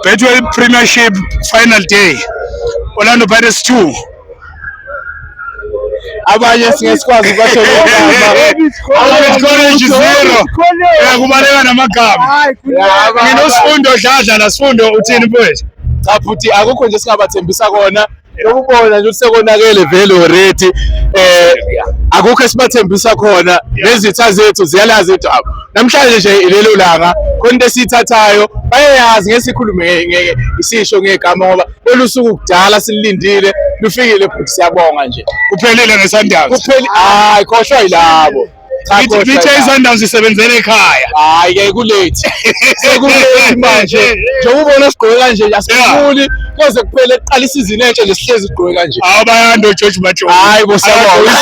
Betway Premiership final day Orlando Pirates 2 abanye singesikwazi ukubashela igama college zero kubaleka namagama mina usifundo dladla la sifundo uthini mfowethu cha futhi akukho nje singabathembisa kona Ukubona nje sekonakele vele already eh akukho esibathembisa khona nezitha zethu ziyalazi idaba namhlanje nje lelo langa khona into esiyithathayo bayayazi ngeke sikhulume isisho ngegama ngoba olusuku kudala silindile lufikile futhi siyabonga nje kuphelile ngesandazi kuphelile hayi khoshwa yilabo Ngithe iSundowns isebenzele ekhaya. Hayi ke kulate. Sekulate manje. Njengoba ubona sigqoke kanje asikhuli koze kuphele kuqala isizini entsha nje sihlezi sigqoke kanje. Hawu bayanda oGeorge Majola. Hayi bo siyabonga.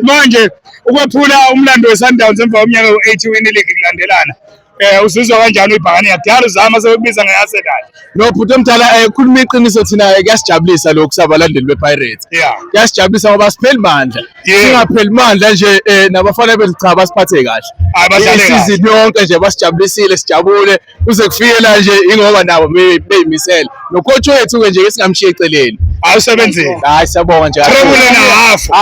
Manje ukwephula umlando weSundowns emva komnyaka u-8 win league kulandelana. Eh usizwa kanjani ibhakane yakudala uzama sekubiza ngeyase kahle. No bhuti omdala eh khuluma iqiniso thina eh, kuyasijabulisa lokhu sabalandeli bePirates. Yeah. Kuyasijabulisa ngoba sipheli mandla. Yeah. Singapheli mandla nje eh nabafana bethu cha basiphathe kahle. Hayi badlale kahle. Isizini yonke nje basijabulisile sijabule kuze kufike la nje ingoba nabo beyimisela. nocoach wethu-ke nje ke singamshiye eceleni hayi usebenzile hayi siyabonga nje trebule nahafu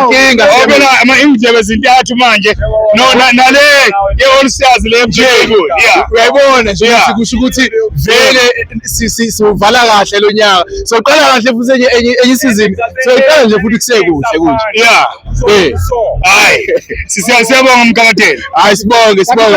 inkinga obela ama-indlebe zintathu manje nale ye-all stars le uyayibona nje kusho ukuthi vele siwuvala kahle lo nyaka soqala kahle futhi enye enye isizini soyiqala nje futhi kusekuhle kunje ya eh. hayi siyabonga mkabateni hayi sibonge sibonge